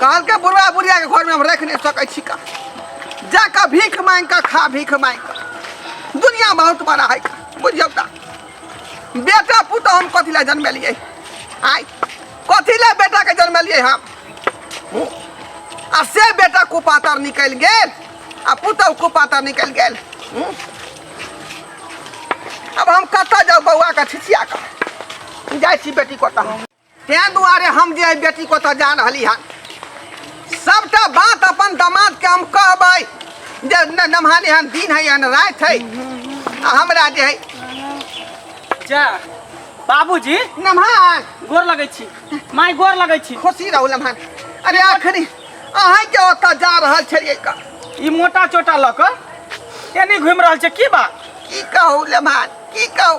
कहलकै बुढ़वा बुढ़ियाके घरमे हम राखि नहि सकै छी का जा कऽ भीख मांगि कऽ खा भीख मांगि कऽ दुनिया बहुत बड़ा है का बुझियौ का बेटा पुतहु हम कथी लए जनमेलियै आइ कथी लए बेटाके जनमेलियै हम हूँ। आ से बेटा कुपातर निकलि गेल आ पुतहु कुपातर निकलि गेल हूँ। अब हम कतऽ जाउ बौआके छिछिया कऽ जाइ छी बेटी कोता ताहि दुआरे हम जे बेटी को तऽ जा रहली हन सबटा बात अपन दामाद के हम कहबै जे न- नमहाने हन दिन है हन रात है आ हमरा जे है जा बाबूजी नमहान गोर लगै छी माय गोर लगै छी खुशी रहू नमहान अरे आखिरी अहाँ के ओतऽ जा रहल छलियै का ई मोटा चोटा लऽ कऽ एनी घुमि रहल छै की बात की कहू नमहान की कहू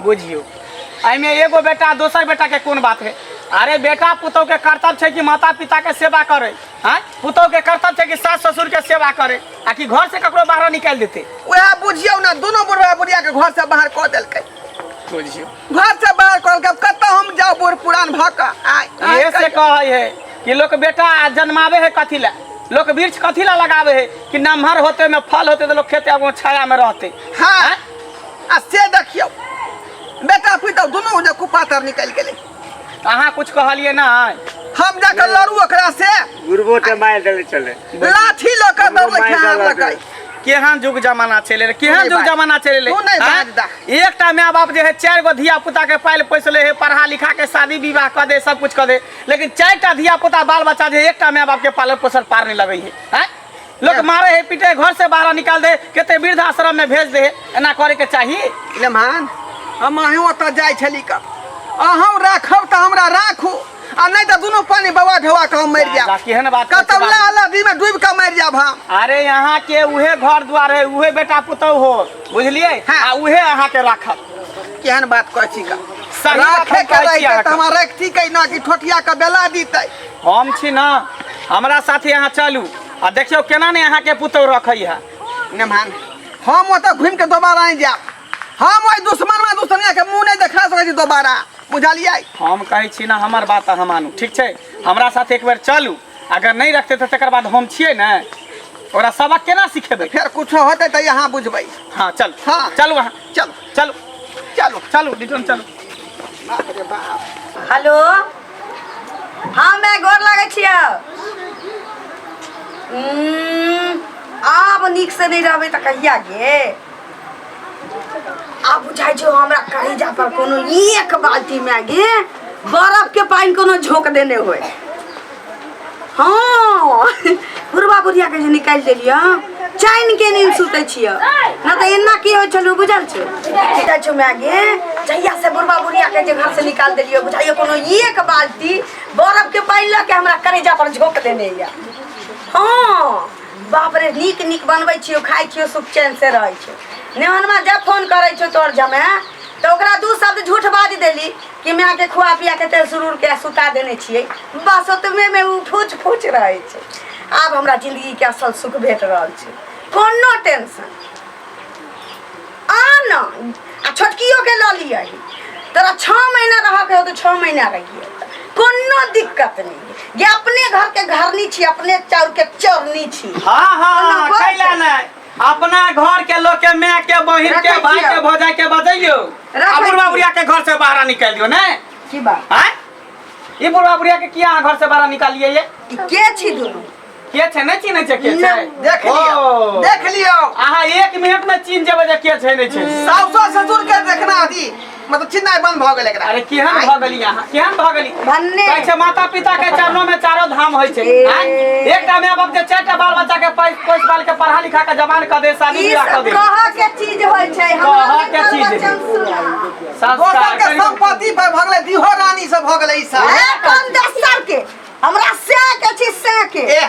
बुझियो एहिमे एगो बेटा दोसर बेटा के कोन बात है अरे बेटा पुतौ के कर्तव्य छै कि माता पिता के सेवा करे हैं पुतौ के कर्तव्य छै कि सास ससुर के सेवा करे आ कि घर से ककरो बाहर निकाल देते वह बुझियो ना दोनों बुढ़वा बुढ़िया के घर से बाहर कर देलकै बुझियो घर से बाहर कर देलकै कत हम जाओ बूढ़ पुरान भ क ये से कहे है कि लोग बेटा जन्मावे है कथी ला लोग वृक्ष कथी ला लगावे है कि नमहर होते में फल होते तो लोग खेते अब छाया में रहते हाँ आ से देखियौ बेटा पुतहु दुनू जे कुपातर निकलि गेलै अहाँ कुछ कहलियै ना हम जाकर लड़ू ओकरा से गुरबो के मार देले चले लाठी लऽ कऽ दौड़ लखै हाथ लकै केहन जुग जमाना चले रे केहन नहीं जुग बाज। जमाना चले रे तू नहीं आँय? बाज दा। एकटा माय बाप जे है चार गो धिया पुता के पाल पोसले है पढ़ा लिखा के शादी विवाह कर दे सब कुछ कर दे लेकिन चार टा धिया पुता बाल बच्चा जे है, एकटा माय बाप के पालन पोषण पार नहीं लगे है आँय? लोक मारे है पीटे घर से बाहर निकाल दे कते वृद्धाश्रम में भेज दे एना करे के चाही लेमान हम अहीं ओतऽ जाइ छली का अहूँ राखब तऽ हमरा राखू आ नहि तऽ दुनू पानी बवा ढवा के हम मरि जाएब केहन बात कतौ लहलदी में डूबि के मरि जाएब हम अरे यहाँ के उहे घर द्वार है उहे बेटा पुतौह हो बुझलिए हाँ। आ उहे अहाँ के राखब केहन बात कहै छी का राखे के रहिते तऽ हमरा रखती कै ना कि ठोठिया के बेला दीतै हम छी ना हमरा साथे अहाँ चलू आ देखियो केना ने अहाँ के पुतौ रखै है ने मान हम ओतऽ घुमि के दोबारा आइ जायब हम ओहि दुश्मन में दुश्मनिया के मुंह नहीं देखा सकै छी दोबारा बुझलियै हम कहै छी ना हमर बात अहाँ मानू ठीक छै हमरा साथ एक बेर चलू अगर नहीं रखते तऽ तकर बाद हम छियै ने ओकरा सबक केना सिखेबै फेर कुछो होतै तऽ अहाँ बुझबै हाँ चलू हाँ। चलू अहाँ चलू चलू चलू चलू रिटर्न चलू बाप रे बाप हेलो हाँ मैं गोर लागै छियै उम्म, आब नीक से नहीं रहबै तऽ कहिया गे आब बुझाइ छौ हमरा करेजा पर कोनो एक बाल्टी मैगी बर्फ के पानि कोनो झोंक देने होय हँ बुढ़बा बुढ़िया के जे निकालि देलियै चैन के नींद सुतै छियै ना तऽ एना की होइ छलौ बुझल छौ जाइ छौ माय गे जहिया से बुढ़बा बुढ़िया के जे घर से निकाल देलियै बुझाइयो कोनो एक बाल्टी बर्फ के पानि लऽ के हमरा करेजा पर झोंक देने यऽ हँ बाप रे नीक नीक बनबै छियौ खाइ छियौ सुख चैन से रहै छौ नेहनमा जब फोन करै छौ तोर जमे तऽ ओकरा दू शब्द झूठ बाजि देली कि माय के खुआ पिया के तेल सुरूर के सुता देने छियै बस ओतबे में उ फूच फूच रहे छै आब हमरा जिंदगी के असल सुख भेट रहल छै कोनो टेंशन आ न आ छोटकियो के लऽ लियै तोरा छः महीना रह के हो तो छः महीना रहिए कोनो दिक्कत नहीं ये अपने घर के घरनी छी अपने चाउर के चोरनी छी हाँ हाँ कोनो बात खैला नहीं। नहीं अपना घर के लोग के माय के बहिन के रखै भाई छियै। के भौजाई के बजैयो आ रखै बुढ़वा छियै। बुढ़िया के घर से बाहर निकाल दियो ने की बात आय ई बुढ़वा बुढ़िया के किया अहाँ घर से बाहर निकालिए ये ई के छी दुनू के छै नहि चिन्है छै के छै नहि, देख लियो ओ। देख लियो अहाँ एक मिनट में चिन्ह जेबै जे के छै नहि छै साउसो ससुर के देखना अथी मतलब चिन्हनाइ बंद भऽ गेल एकरा अरे केहन भऽ गेली अहाँ केहन भऽ गेली भन्ने। कहै छै माता पिता के चरणों में चारो धाम होइ छै ए। आँय? एकटा माय बाप के चारिटा बाल बच्चा के पैस पैस बाल के पढ़ा लिखा के जवान कऽ दे शादी ई बियाह कऽ सब दे कह के चीज होइ छै हमरा कहऽ के के चीज होइ छै। वचन सुना दोसर संस्कार के करियौ। संपत्ति पर भऽ गेलै दिहो रानी सब भऽ गेलै ई सब ए कोन दस्तर के हमरा से के छी से के एह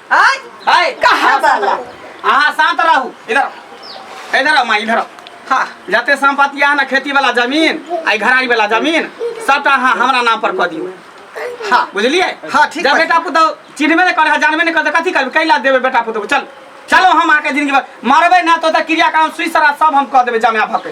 आय हाय कहाँ वाला? हाँ शांत रहू इधर आओ। इधर आओ माँ इधर आओ हाँ जते संपत्ति है ना खेती वाला जमीन आई घराई वाला जमीन सबटा हाँ हमरा नाम पर कह दियो हाँ बुझलिए हाँ, ठीक जब बा। बेटा पुतो चिन्हबे नहीं करे जानबे नहीं करे कथी करबे कैला देबे बेटा पुतो चल चलो हम आके जिंदगी भर मारबे ना तो ओतऽ क्रियाक्रम सुई सरा सब हम कह देबे जमे भके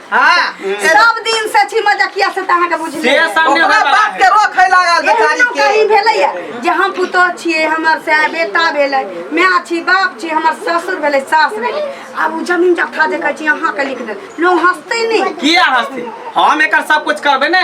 हां सब दिन से छी मजकिया से त अहाँ के बुझले से सामने ओकरा होय बाप के वाला रोक है लागल एहनो बेचारी कहीं के भेलैया जे हम पुतोह छियै हमर से बेटा भेलै माय छी बाप छी हमर ससुर भेलै सास भेलै आब ओ जमीन जथा जे कहै छी अहाँके लिख देल लोग हंसतै नहि किया हंसते हम एकर सब कुछ करबे ने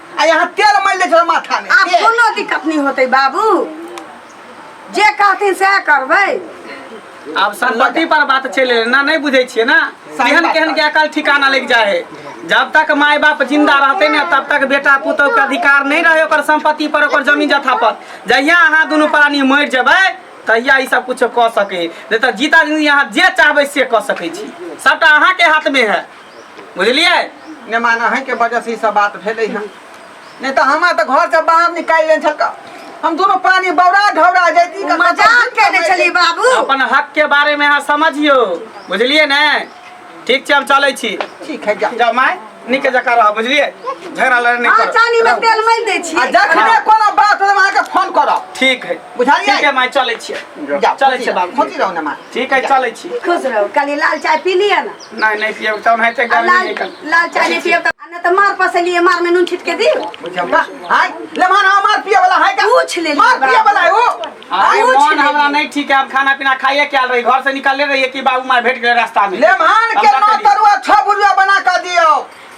आ यहाँ तेल मल ले छल माथा में आब तेल। कोनो दिक्कत नहीं होते बाबू जे कहथिन सएह करबै आब संपत्ति पर बात चले ना नहीं बुझे छिए ना सही केहन बात केहन बा। के अकल ठिकाना लग जाए है जब तक माय बाप जिंदा रहते ने तब तक बेटा पुतोह के अधिकार नहीं रहे ओकर संपत्ति पर ओकर जमीन जथा पर जहिया अहाँ दुनू प्राणी मर जेबै तहिया ई सब कुछ कऽ सके नहीं तऽ जीता जिंदगी अहाँ जे चाहबै से कऽ सकै छी सबटा अहाँके हाथ में है बुझलिए ने मान अहें के वजह से ई सब बात भेले हन नहीं तो हमार तो घर से बाहर निकाल लेन छल का हम दोनों पानी बौरा ढौरा जैती का मजाक करे छली बाबू अपन हक के बारे में अहाँ समझियो बुझलिए ने ठीक छै हम चलै छी ठीक है जा जा माय नीके जका रह बुझलिए झगड़ा लड़े नहीं हाँ कर चानी में तेल मल दे छी आ जखने कोनो बात होले अहाँ के फोन करब ठीक है बुझलिए? ठीक है माय चलै छी जा चलै छी बाबू खोजी रहो ने मां ठीक है चलै छी खुश रहो कल लाल चाय पी लिया ना नहीं नहीं पिया चाउन है ते गर्मी लाल निकल लाल चाय नहीं पियब त ना त मार पसलिए मार में नून छिटके दी हाय ले मान आ मार पिए वाला हाय का पूछ ले मार पिए वाला है वो अरे पूछ मन ले। हमरा नहीं ठीक है हम खाना पीना खाइए क्या रही घर से निकलले रहिए कि बाबू मार भेट गए रास्ता में ले मान के हमरा नौ कहिए। तरुआ छह बुरुआ बना कर दियो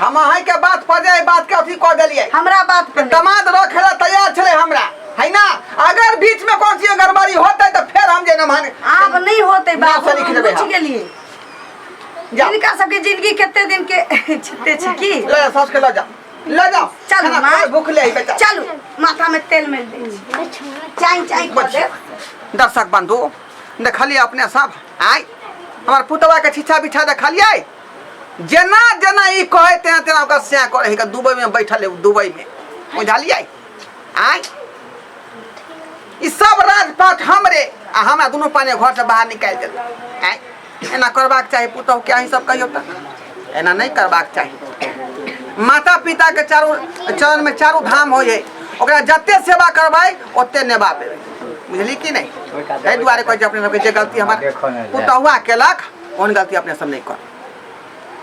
हम अहाँ के बात पर जे बात के अथी कर दिलिए हमरा बात पर दमाद रखे ला तैयार छे हमरा है ना अगर बीच में कौन सी गड़बड़ी होते तो फिर हम जे नमान आप नहीं होते बाप से लिख देबे पूछ के लिए इनका सबके जिंदगी कितने दिन के छते छ की ले सस के ले जा ले जा चल मां भूख ले बेटा चल माथा में तेल मिल दे चाय चाय कर दे दर्शक बंधु देखलिए अपने सब आय हमार पुतवा के छिछा बिछा देखलिए जेना जेना ई कहे तेना तेना ओकर सैं करे है दुबई में बैठल है दुबई में बुझलियै आय ई सब राजपाट हमरे आ हमरा दुनू पाने घर से बाहर निकाल देल आय एना करबाक चाही पुतहु के अहीं सब कहियो त एना नहीं करबाक चाही माता पिता के चारू चरण में चारू धाम हो है ओकरा जते सेवा करबै ओते ने बाप देबै बुझली कि नहि ताहि दुआरे कहै छै अपने सबके जे गलती हमर पुतहुआ केलक ओहन गलती अपने सब नहि कर